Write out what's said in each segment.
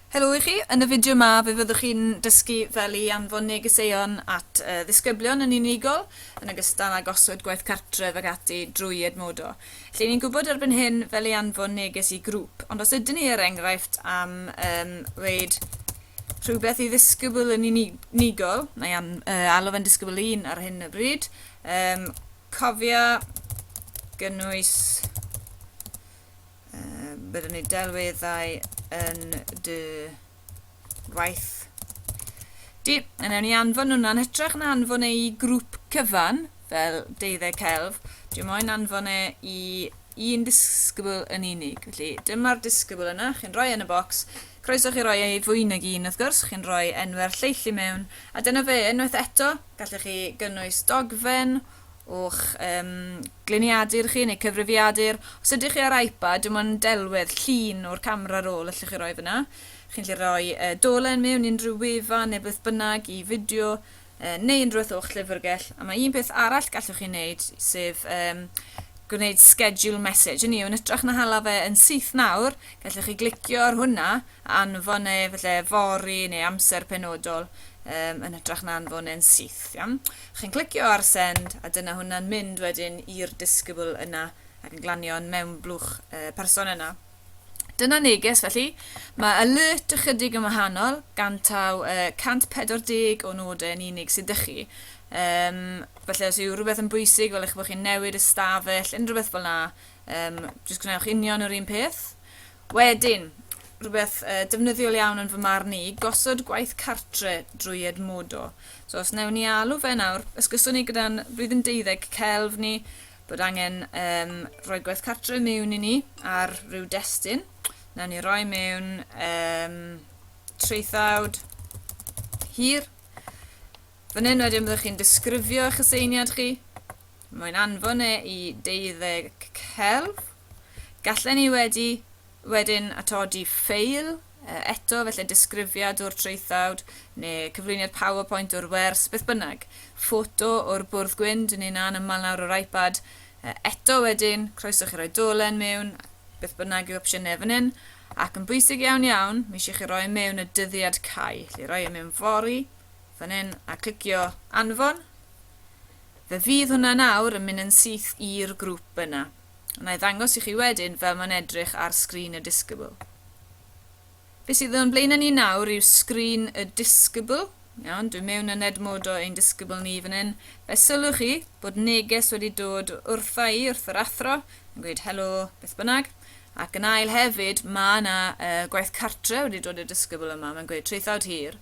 Helo i chi, yn y fideo yma fe fyddwch chi'n dysgu fel i anfon negeseuon at uh, ddisgyblion yn unigol, yn ogystal â gosod gwaith cartref ac ati drwy Edmodo. Lle ni'n gwybod erbyn hyn fel i anfon neges i grŵp, ond os ydyn ni er enghraifft am um, reid rhywbeth i ddisgybl yn unigol, neu an, uh, alw fe'n disgybl un ar hyn y bryd, um, cofia gynnwys Um, byddwn ni delweddau yn dy waith di. A newn ni anfon hwnna'n hytrach na anfon e i grŵp cyfan, fel deuddeg celf, dwi moyn anfon e i un disgybl yn unig. Felly dyma'r disgybl yna, chi'n rhoi yn y bocs, croeso chi roi ei fwy nag un wrth gwrs, chi'n rhoi enw'r lleill i mewn, a dyna fe, unwaith eto, gallech chi gynnwys dogfen, O'ch um, gliniadur chi neu cyfrifiadur. Os ydych chi ar iPad, dim ond delwedd llun o'r camera roll allwch chi roi fyna. Chi'n lle roi uh, dolen mewn unrhyw wefan neu beth bynnag i fideo uh, neu unrhyw beth o'ch llyfrgell. A mae un peth arall gallwch chi wneud, sef um, gwneud schedule message. Yn i, yn ytrach na hala fe yn syth nawr, gallwch chi glicio ar hwnna anfon neu efallai fory neu amser penodol um, yn hytrach na anfon e'n syth. Iawn? Chi'n clicio ar send a dyna hwnna'n mynd wedyn i'r discable yna ac yn glanio yn mewn blwch uh, person yna. Dyna neges felly. Mae alert ychydig yn wahanol, gan taw uh, 140 o nodau yn unig sydd ydych chi. Um, felly os yw rhywbeth yn bwysig, fel eich bod chi'n newid ystafell, unrhyw beth fel yna, um, jyst gwnewch union yr un peth. Wedyn, rhywbeth defnyddiol iawn yn fy marn i, gosod gwaith cartre drwy Edmodo. So os newn ni alw fe nawr, ysgyswn ni gyda'n flwyddyn deuddeg celf ni bod angen um, rhoi gwaith cartre mewn i ni ar rhyw destun. Newn ni roi mewn um, traethawd hir. Fan hyn wedyn byddwch chi'n disgrifio eich aseiniad chi. Mae'n anfon e i deuddeg celf. Gallen ni wedi wedyn atodi ffeil eto, felly disgrifiad o'r traethawd, neu cyflwyniad powerpoint o'r wers, beth bynnag. Ffoto o'r bwrdd gwyn, dyn ni'n anaml nawr o'r iPad. Eto wedyn, croeso chi roi dolen mewn, beth bynnag yw opsiynau fan hyn. Ac yn bwysig iawn iawn, mi eisiau chi roi mewn y dyddiad cau. Felly roi e mewn fori, fan hyn, a clicio anfon. Fe fydd hwnna nawr yn mynd yn syth i'r grŵp yna. Wna i ddangos i chi wedyn fel mae'n edrych ar sgrin y Discable. Be sydd o'n blaenau ni nawr yw sgrin y Discable. Iawn, dwi mewn yn edmodo ein Discable ni fan hyn. Fe sylwch chi bod neges wedi dod wrtha i wrth yr athro yn gweud helo beth bynnag. Ac yn ail hefyd, mae yna uh, gwaith cartre wedi dod i'r Discable yma, mae'n gweud traethawd hir.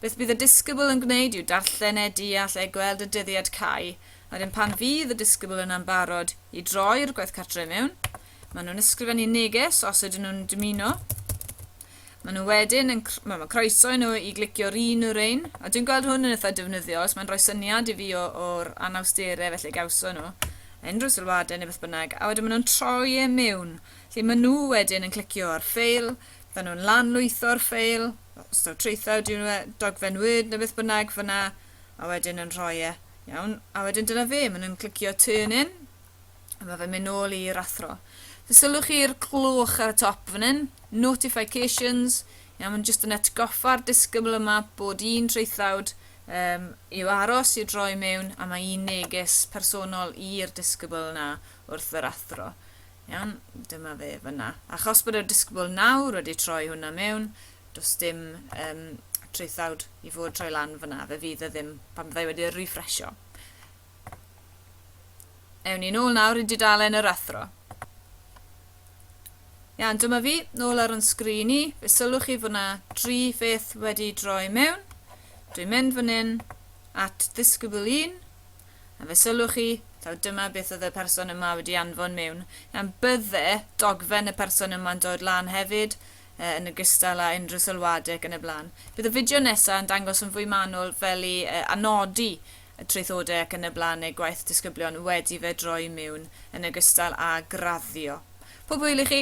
Beth bydd y Discable yn gwneud yw darllen e, deall e, gweld y dyddiad cau, Wedyn pan fydd y disgybl yna'n barod i droi'r gwaith cartre i mewn, maen nhw'n ysgrifennu neges os ydyn nhw'n dymuno. Maen nhw wedyn yn, wel mae croeso i nhw i glicio'r un o'r ein, a dwi'n gweld hwn yn eitha defnyddiol, os mae'n rhoi syniad i fi o'r anawsterau felly gawson nhw, unrhyw sylwadau neu beth bynnag, a wedyn maen nhw'n troi e mewn, lle maen nhw wedyn yn clicio ar ffeil, maen nhw'n lanlwytho'r ffeil, os taw traethau ydyw nhw, dogfen Word neu beth bynnag fyna, a wedyn yn rhoi e. Iawn, a wedyn dyna fe, maen nhw'n clicio turn in, a mae fe'n mynd nôl i'r athro. Fe sylwch chi'r clwch ar y top fan hyn, notifications, iawn, mae'n jyst yn atgoffa'r disgybl yma bod un traethlawd um, i'w aros i droi mewn a mae un neges personol i'r disgybl yna wrth yr athro. Iawn, dyma fe fyna. Achos bod y disgybl nawr wedi troi hwnna mewn, does dim um, traethawd i fod troi lan fyna, fe fydd y e ddim pan byddai wedi refresho. Ewn ni nôl nawr i dudalen yr athro. Iawn, dyma fi, nôl ar yn sgrin i, fe sylwch chi fod yna dri pheth wedi droi mewn. Dwi'n mynd fan hyn at ddisgybl un, a fe sylwch chi, taw dyma beth oedd y person yma wedi anfon mewn. Iawn, bydde dogfen y person yma'n dod lan hefyd, yn ogystal â unrhyw sylwadau ac yn y blaen. Bydd y fideo nesaf yn dangos yn fwy manwl fel i anodi y traethodau ac yn y blaen neu gwaith disgyblion wedi fe droi miwn yn ogystal â graddio. Pob hwyl i chi!